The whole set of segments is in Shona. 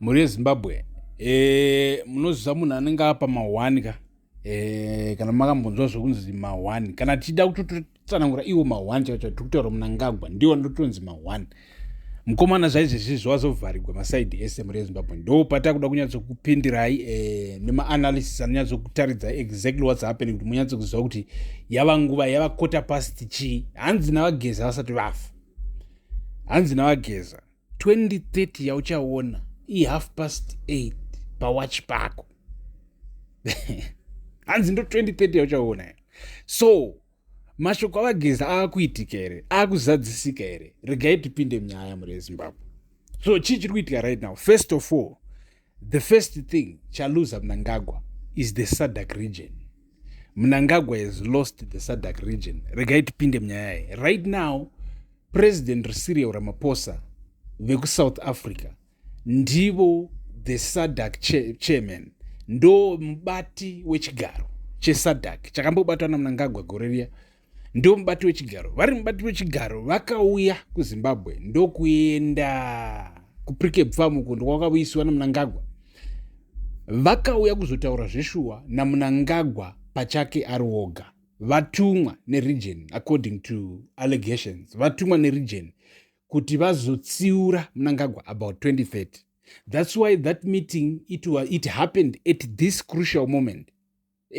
Mhuri yeZimbabwe eh, munoziva munhu anenge apa mahwani ka eh, kana makambonzwa zvekunzi mahwani kana tichida kutotsanangura iwo mahwani chaicho tiri kutaura munangagwa ndiwo ndotonzi mahwani mukomana zvaizvezvi zvawazovharigwa masaidi ese mhuri yezimbabwe ndo pata kuda kunyatsokupindirai e, nemaanalysis anonyatsokutaridza exactly whats happening kuti munyatsokuziva kuti yava nguva yava quarter past chii hanzi navageza vasati vafa hanzi navageza 2030 yauchaona ihalf past 8 pawatch pako hanzi ndo 2030 yauchaona so mashoko avageza aakuitika here aakuzadzisika here regai tipinde munyaya muri ezimbabwe so chii chiri kuitika right now first of all The first thing Chaluza Mnangagwa is the SADC region. Mnangagwa has lost the SADC region. Regai tipinde munyaya iyi. Right now, President Cyril Ramaphosa vekuSouth Africa ndivo the SADC che chairman ndo mubati wechigaro cheSADC chakambobatwa naMnangagwa gore riya ndo mubati wechigaro vari mubati wechigaro vakauya kuzimbabwe ndokuenda kuprike bfamu uko ndokwakavuyisiwa namunangagwa vakauya kuzotaura zveshuwa namunangagwa pachake ari woga vatumwa neregion according to allegations vatumwa neregion kuti vazotsiura munangagwa about 2030 that's why that meeting it, it happened at this crucial moment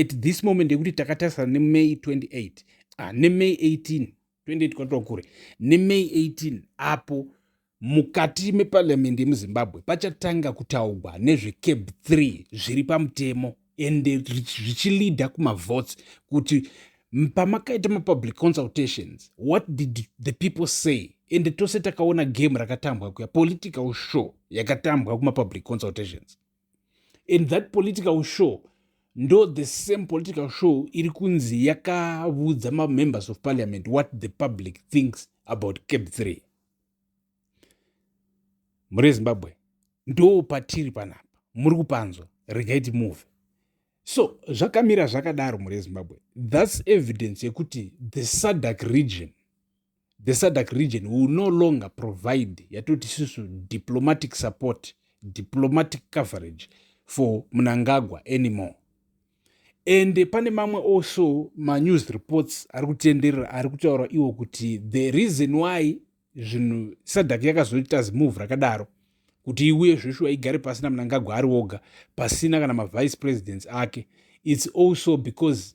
at this moment yekuti takatarisana nemay 28 ah, nemay 18 28 kwatova kure nemay 18 apo mukati meparliamendi yemuzimbabwe pachatanga kutaugwa nezvecab 3 zviri pamutemo ende zvichilida kumavotes kuti pamakaita mapublic consultations what did the people say ende tose takaona game rakatambwa kuya political show yakatambwa kumapublic consultations and that political show ndo the same political show iri kunzi yakavudza mamembers of parliament what the public thinks about cap 3 muri zimbabwe ndo patiri panapa muri kupanzwa regai timove so zvakamira zvakadaro muri zimbabwe thats evidence yekuti the sadac region the sadc region will no longer provide yatoti isusu diplomatic support diplomatic coverage for munangagwa anymore and pane mamwe also manews reports ari kutenderera ari kutaura iwo kuti the reason why zvinhu sadc yakazoita zimove rakadaro kuti iuye zveshuwa igare pasina munangagwa ari woga pasina kana mavice presidents ake its also because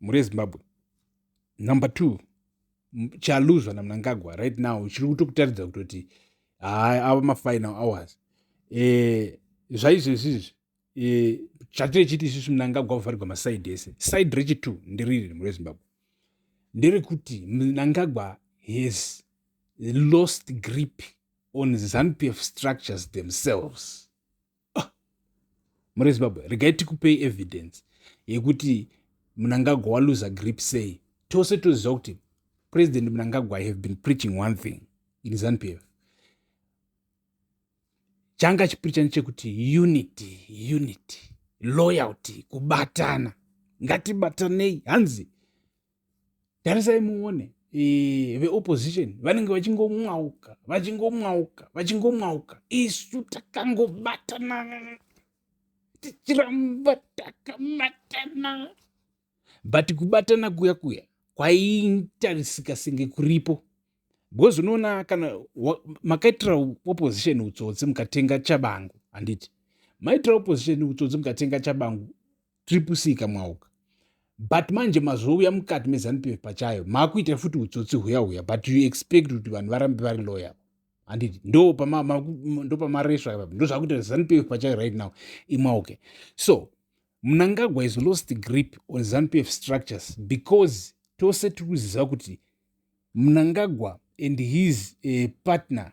mhuri yezimbabwe number two chaluzwa namnangagwa right now chiri kutokutaridza kutoti haa ava mafinal hours e, zvaizvezvi izvi e, chatiri chiti isusu mnangagwa kuvharigwa masaidi ese saidi rechitwo nderiri mhuri yezimbabwe nderekuti mnangagwa has lost grip on zanupf structures themselves ah, muri zimbabwe regai tikupei evidence yekuti munangagwa waluza grip sei tose toziva kuti president munangagwa i have been preaching one thing in zanupf changa chipricha nechekuti unity unity loyalty kubatana ngatibatanei hanzi tarisai muone e, veopposition vanenge vachingomwauka vachingomwauka vachingomwauka isu takangobatana tichiramba takabatana but kubatana kuya kuya kwaitarisika senge kuripo because unoona kana makaitira opposition utsotsi mukatenga chabangu handiti maitira opposition utsotsi mukatenga chabangu triple c kamwauka but manje mazouya mukati mezanup f pachayo makuita futi utsotsi huya huya but you expect kuti vanhu varambe vari loyal handiti ndopamaresva ipapa ndozvakuita zanup f pachayo right now imwauke so mnangagwa is lost grip on zanup f structures because tose tiri kuziva kuti mnangagwa and his uh, partner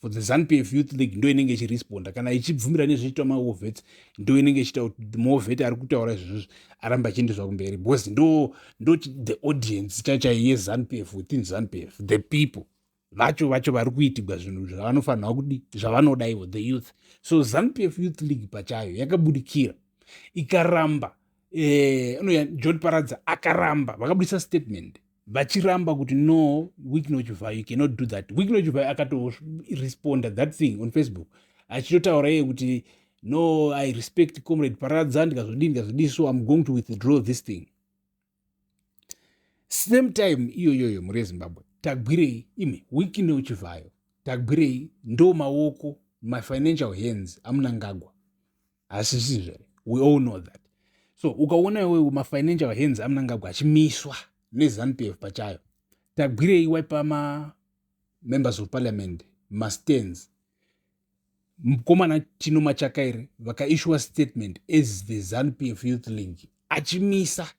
for the zanu pf youth league ndo inenge ichiresponda kana ichibvumira nezvichiitwa mawo vets ndo inenge ichiita kuti the more vet ari kutaura izvozvo aramba achiendeswa kumberi because ndo ndo the audience chachai yezanu pf within zanu pf the people vacho vacho vari kuitigwa zvinhu zvavanofanirwa kudi zvavanoda ivo the youth so zanu pf youth league pachayo yakabudikira ikaramba eh, anoya john paradza akaramba vakabudisa statement vachiramba kuti no wiknochivai you cannot do that wiknochivai akatoresponda that thing on facebook achitotaura iye kuti no i respect comrade paradza ndikazodii ndikazodii so im going to withdraw this thing same time iyoyoyo mhuri yezimbabwe tagwirei imi wikine uchivayo tagwirei ndo maoko my financial hands amunangagwa hasisizvo here we all know that so ukaona iwewe mafinancial hands amunangagwa achimiswa nezanup f pachayo tagwirei waipa mamembers of parliament mastands mukomana chino machakaire vakaishuwa statement as the zanup f youth league achimisa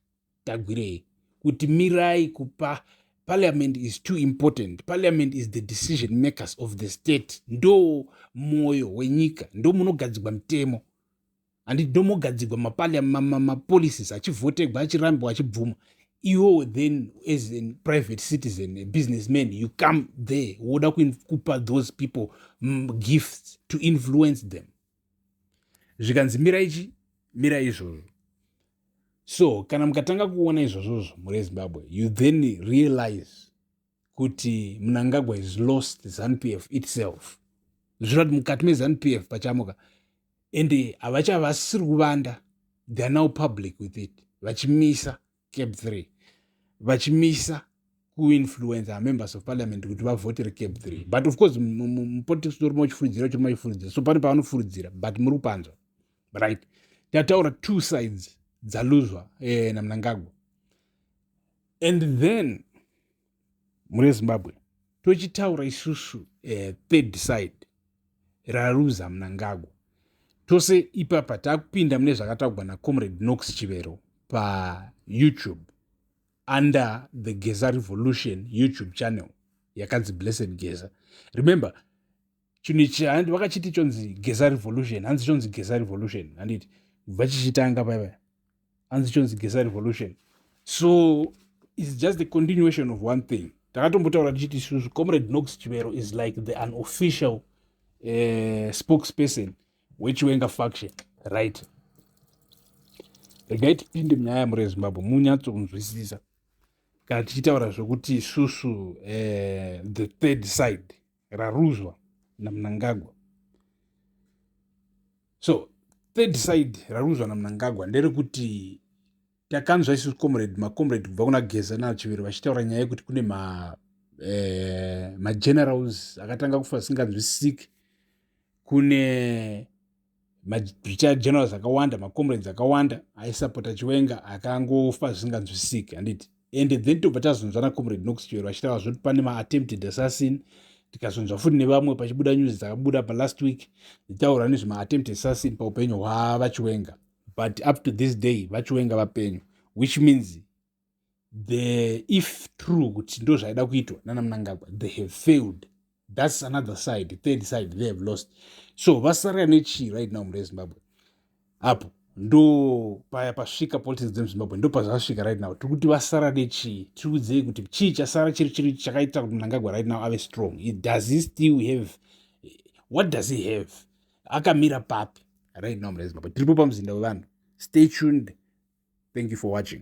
tagwirei kuti mirai kupa parliament is too important parliament is the decision makers of the state ndo mwoyo wenyika ndo munogadzigwa mitemo handi ndo mogadzigwa mapolicies achivhotegwa achirambwa achibvuma iwo then as a private citizen a business man you come there woda kupa those people mm, gifts to influence them zvikanzi mira ichi mira izvozvo so kana mukatanga kuona izvozvozvo muri ezimbabwe you then realize kuti munangagwa is lost zanp f itself zvichira kuti mukati mezanp f pachamuka ende havachavasisiri kuvanda theyare now public with it vachimisa cab 3 vachimisa kuinfluenza members of parliament kuti vavhotere cab 3 but of course mupolitics ndorima uchifuridzira uchirima uchifuridzira so pane pavanofuridzira but muri kupanzwa right tataura two sides dzaluzwa eh, namnangagwa and then mune zimbabwe tochitaura isusu uh, third side raruza munangagwa tose ipapa takupinda mune zvakataugwa nacomrade nox chivero payoutube under the geza revolution youtube channel yakanzi blessed geza remember chinhu ichi handi vakachiti chonzi geza revolution hanzi chonzi geza revolution handiti kubva chichitanga paiva hanzi chonzi geza revolution so is just the continuation of one thing takatombotaura tichiti isusu comrade nox chivero is like the unofficial uh, spokesperson wechiwenga faction right regai tipinde munyaya yamuri yezimbabwe munyatsokunzwisisa kana tichitaura zvekuti isusu uh, the third side raruzwa namunangagwa so third side raruzwa namunangagwa nderekuti takanzwa isu comrade macomrade kubva kuna geza nachiviri vachitaura nyaya yekuti kune ma eh, magenerals akatanga kufa asinganzwisisiki kune mabrigade generals akawanda macomrades akawanda aisapota chiwenga akangofa zvisinganzwisisiki handiti and then tobva tazonzvana comrade nox chiwero vachitaura zvoti pane maattempted assassin tikazonzwa futi nevamwe pachibuda news dzakabuda palast week dzitaura nezvemaattempted assassin paupenyu hwavachiwenga but up to this day vachiwenga vapenyu which means the if true kuti ndo zvaida kuitwa nana munangagwa they have failed thats another side third side they have lost so vasara nechii right now mure zimbabwe apo ndo paya pasvika politics dzemuzimbabwe ndo pazvasvika right now tiri kuti vasara nechii tiri kudzei kuti chii chasara chiri chiri chakaita kuti munangagwa right now ave strong does he still have what does he have akamira papi right now mure zimbabwe tiripo pamuzinda wevanhu stay tuned thank you for watching